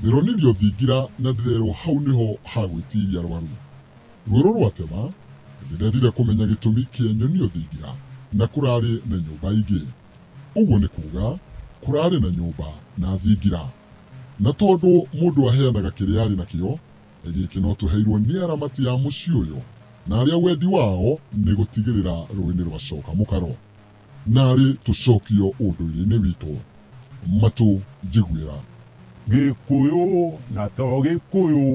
Thĩronirio thingira na ndĩrerwo hau nĩho hagwĩtiria rwaru. Rwerũ rwatema, ndĩrethire kũmenya gĩtũmi kĩa nyonio thingira na kũrarĩ na nyũmba ingĩ. Ũguo nĩ kuga kũrarĩ na nyũmba na thingira. Na tondũ mũndũ aheanaga kĩrĩa arĩ nakĩo, gĩkĩ no tũheirwo nĩ aramati a mũciĩ ũyũ na arĩa wendi wao nĩ gũtigĩrĩra rũĩ nĩ rwacoka mũkaro. Narĩ tũcokio ũndũire-inĩ witũ, matũ njiguĩra. Gĩkũyũ na to Gĩkũyũ,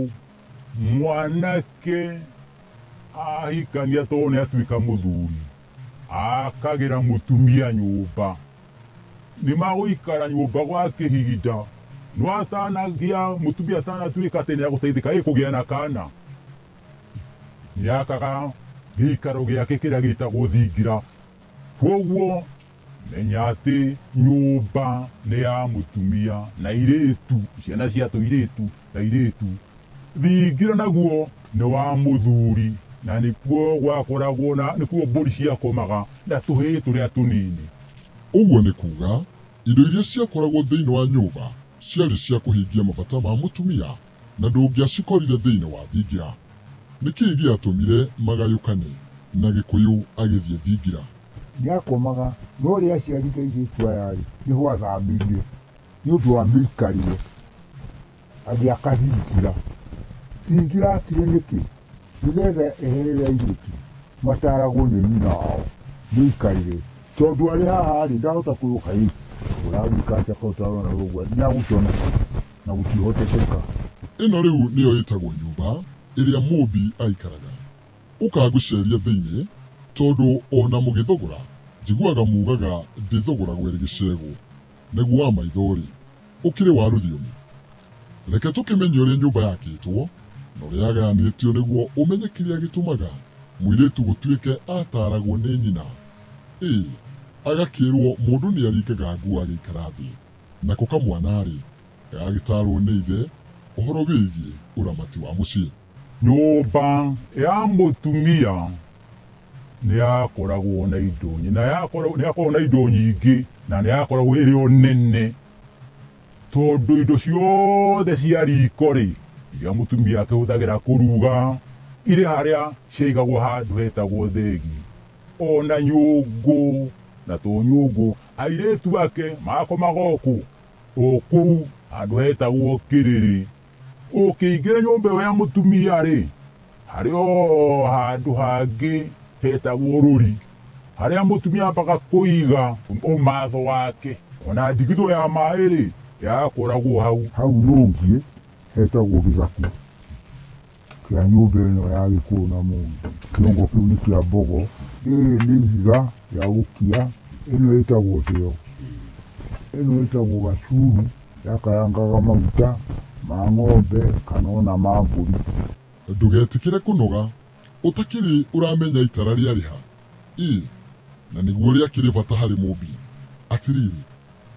mwanake ahikania to nĩ atuĩka mũthuri, akagĩra mũtumia nyũmba. Nĩ magũikara nyũmba gwa kĩhinda, no atanagĩa, mũtumia atanatuĩka atĩ nĩ agũteithĩka ĩ kũgĩa na kana, nĩ akaga gĩikaro gĩake kĩrĩa gĩtagwo thingira. Kwoguo menya atĩ nyũmba nĩ ya mũtumia na irĩtu ciana cia tũirĩtu na irĩtu thingĩra naguo nĩ wa mũthuri na nĩkuo gwakoragwo na nĩkuo mbũri ciakomaga na tũhĩĩ tũrĩa tũnini Ũguo nĩ kuuga, indo iria ciakoragwo thĩinĩ wa nyũmba ciarĩ cia kũhingia mabata ma mũtumia Na ndũngĩacikorire thĩinĩ wa thingira. Nĩ kĩĩ gĩatũmire magayũkane, na Gĩkũyũ agĩthiĩ thingira? Nĩakomaga, no rĩrĩa aciari Ngai airĩtu aya-rĩ, nĩho athamirie nĩ ũndũ wa mĩikarĩre, agĩaka thingira. Thingira aakire nĩkĩ? Nĩgetha eherere airĩtu mataaragwo nĩ nyina wao mĩikarĩre. Tondũ arĩ haha-rĩ, ndahota kwĩrwo, Kaĩ ũragĩka atĩa kaĩ ũtarona ũguo? Nĩagũkĩona kĩ? na gũtihotekeka. Ĩno rĩu nĩyo ĩtagwo nyũmba ĩrĩa Mũũmbi aikaraga. Ũka ngũceerie thĩinĩ, tondũ o na mũgĩthogora, njiguaga muugaga ndĩthogoragwo ĩrĩ gĩcegũ. Naguo wa maitho-rĩ, ũkĩrĩ wa rũthiomi? Reke tũkĩmenye ũrĩa nyũmba yakĩtwo na ũrĩa yagayanĩtio nĩguo ũmenye kĩrĩa gĩtũmaga mũirĩtu gũtuĩke ataaragwo nĩ nyina. Ĩ agakĩĩrwo mũndũ nĩaringaga nguo agĩikara thĩ? Nako kamwana-rĩ, gagagĩtaarwo nĩ ithe ũhoro wĩgiĩ ũramati wa mũciĩ. Nyũmba ya mũtumia nĩ yakoragwo na indo nyingĩ, na yakoragwo, nĩ yakoragwo na indo nyingĩ, na nĩ yakoragwo ĩrĩ o nene, tondũ indo ciothe cia riko-rĩ, iria mũtumia akĩhũthagĩra kũruga, irĩ harĩa ciaigagwo handũ hetagwo thĩgi, o na nyũngũ na tũnyũngũ. Airĩtu ake makomaga o kũu o kũu handũ hetagwo kĩrĩrĩ. Ũkĩingĩra nyũmba ĩyo ya mũtumia-rĩ, harĩ o handũ hangĩ hetagwo rũri, harĩa mũtumia ambaga kũiga ũmatho wake, ona ndigithũ ya maĩ-rĩ, yakoragwo hau. Hau rungu hetagwo gĩthaku. kĩa nyũmba ĩno ya gĩkũyũ na mũndũ kĩongo kĩu nĩ kĩa mbogo rĩrĩ nĩ ihiga rĩa gũkia ĩno ĩtagwo thĩo ĩno ĩtagwo gacuru yakayangaga maguta ma ng'ombe kana ona ma mbũri ndũgetĩkĩre kũnoga ũtakĩrĩ ũramenya itara rĩarĩ ha Ii, na nĩguo ũrĩa akĩrĩ bata harĩ mũmbi. Atĩrĩrĩ,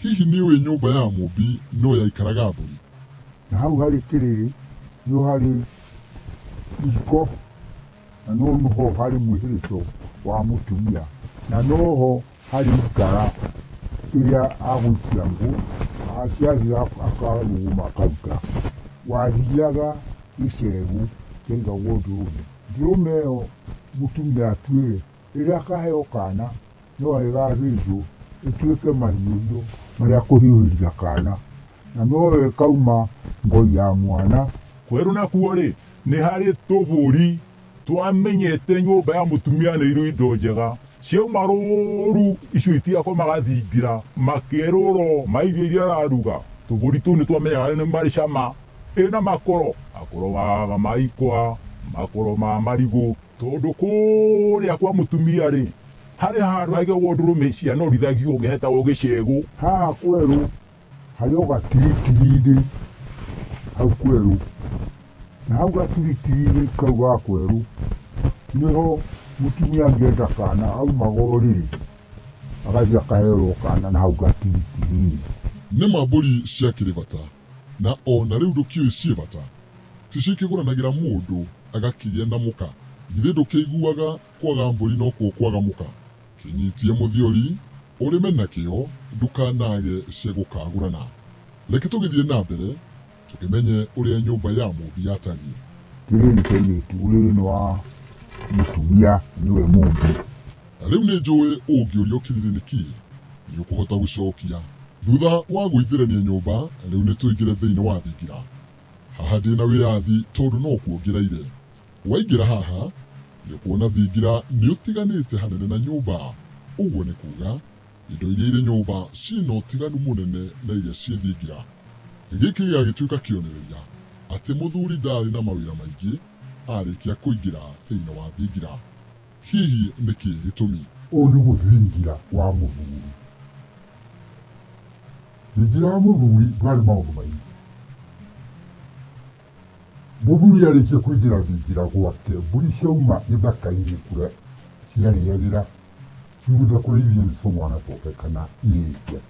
hihi nĩ ũĩ nyũmba ya mũmbi no yaikaraga mbũri? Na hau harĩ kĩrĩrĩ nĩho harĩ ihiko, na no ho harĩ mwĩhĩrĩco wa mũtumia, na no ho harĩ ikara ĩrĩa agũikia ngũ, ciathira akarũgũma akaruta. Wathiaga gĩcegũ kĩaigagwo ndũrũme. Ndũrũme ĩyo mũtumia atuĩre, rĩrĩa akaheo kaana, no arĩ gathĩnjwo, ĩtuĩke mahiũhio marĩa akũhiũhĩria kaana, na noyo ĩkauma ngoi ya mwana. Kwerũ nakuo-rĩ, nĩ harĩ tũbũri twamenyete nyũmba ya mũtumia nĩ irĩ indo njega, ciauma rũũru icio itigakwo magathingira, makerũrwo, maigĩe iria araruga, tũbũri tũu nĩ twamenyaga nĩ marĩ cama. Ĩna makoro, makoro ma maikwa, makoro ma marigũ. Tondũ kũrĩa kwa mũtumia-rĩ, harĩ handũ haigagwo ndũrũme ici cianorithagio gĩhetagwo gĩcegũ. Haha kwerũ harĩ o gatiritirinĩ hau kwerũ, na hau gatiritirinĩ kau ga kwerũ nĩho mũtumia angĩenda kana aumaga o rĩrĩ agathiĩ akaherwo kana na hau gatiritirinĩ. Nĩ ma mbũri ciakĩrĩ bata? Na o na rĩu ndũkĩũĩ ciĩbata. Ticio ikĩgũranagĩra mũndũ agakĩgĩa na mũka. Githĩ ndũkĩiguaga kwaga mbũri nokuo kwaga mũka? Kĩnyitie mũthiori, ũrĩme nakĩo, ndũkanage cia gũkagũrana. Reke tũgĩthiĩ na mbere tũkĩmenye ũrĩa nyũmba ya mũũmbi yatariĩ. Rĩrĩ nĩ kairĩtu, ũyũ nĩ wa mũtumia, nĩwe mũũmbi. Rĩu nĩ njũĩ ũngĩũrio kĩrĩrĩ nĩ kĩĩ, nĩ ũkũhota gũcokia. Thutha wa gũithĩrania nyũmba, rĩu nĩ tũingĩre thĩinĩ wa thingira. Haha ndĩ na wĩyathi tondũ no kuo ngereire. Waingĩra haha, nĩ ũkuona thingira nĩ ũtiganĩte hanene na nyũmba. Ũguo nĩ kuuga, indo iria irĩ nyũmba ciĩ na ũtiganu mũnene na iria ciĩ thingira. Gĩkĩ gĩgagĩtuĩka kĩonereria atĩ mũthuri ndaarĩ na mawĩra maingĩ arĩkia kũingĩra thĩinĩ wa thingira. Hihi nĩ kĩĩ gĩtũmi? Ũũ nĩguo thingira wa mũthuri. Thingira wa mũthuri ndwarĩ maũndũ maingĩ. Mũthuri arĩkia kũingĩra thingira gwake, mbũri ciauma gĩthaka-inĩ kũrĩa ciarĩagĩra ciumĩte kũrĩa ithiĩ nĩ tũmwana twake kana irĩkia.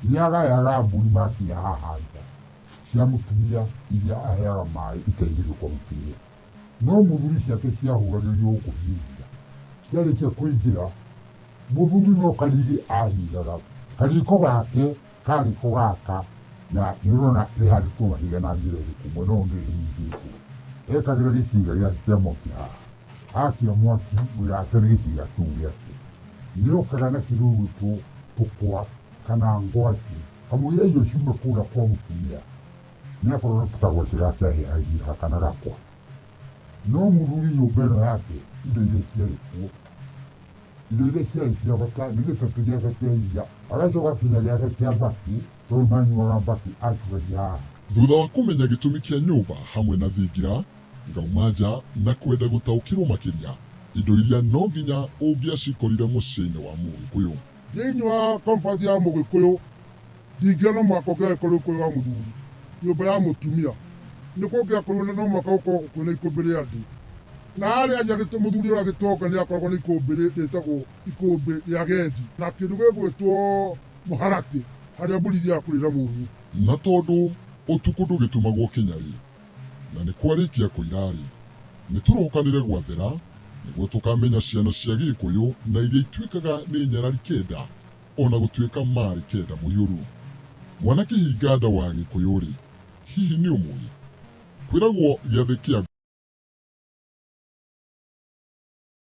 Nĩ agayaga mbũri makinya haha nja cia mũtumia iria aheaga maĩ ikaingĩrio kwa mũtumia. No mũthuri ciake ciahũganĩrio kũhinyia, ciarĩkia kũingĩra, mũthuri no kariri ahingaga. Kariko gake kariko gaka na nĩũrona rĩhandĩtwo mahiga na njĩra ĩrĩkũ mwena ũyũ ũngĩ rĩhingĩtwo. Ekagĩra gĩcinga gĩake kĩa mwaki haha, akia mwaki wĩra wake nĩ gĩcinga kĩu gĩake. Nĩokaga na kĩndũ gĩgwĩtwo tũkwa kana ngwacĩ, kamũira irio ciume kũrĩa kwa mũtumia. nä akorwo nä kutagwo acio gake ahä ahiha kana gakwa no må thuri nyå mba ä no yake indo iria ciarä kuo indo iria ciarä cia bata nä gä tatå gäake kä iria agacoka kinya gäake kä a mbaki tondå manyuaga mbaki acugagia haha Thutha wa kũmenya gĩtũmi kĩa nyũmba hamwe na thingira, ngauma nja na kwenda gũtaũkĩrũo makĩria indo iria no nginya ũngĩacikorire mũciĩ-inĩ wa Mũgĩkũyũ. Thĩinĩ wa compass ya Mũgĩkũyũ, Ndingĩona no mũhaka ũngĩagĩkorwo ũkũrĩ wa mũthuri, nyũmba ya mũtumia, nĩ kũngĩakorirwo na no mũhaka gũkorwo kwĩna ikũmbĩ rĩa andũ. Na harĩa nja mũthuri ũrĩa agĩtonga nĩ akoragwo na ikũmbĩ rĩtagwo ikũmbĩ rĩa agendi, na kĩndũ gĩgwĩtwo mũharatĩ harĩa mbũri ithiaga kũrĩra mũnyũ. Na tondũ ũtukũ ndũgĩtumagwo kĩnya-rĩ, na nĩ kwarĩkia kũira-rĩ, nĩ tũrokanĩre gwathera nĩguo tũkamenya ciana cia Gĩgĩkũyũ na iria ituĩkaga nĩ nyarari kĩnda. O na gũtuĩka maarĩ kenda mũiyũru, mwana kĩhinganda wa Gĩkũyũ-rĩ, hihi nĩ ũmũĩ? Kwĩragwo gĩathĩ kĩa.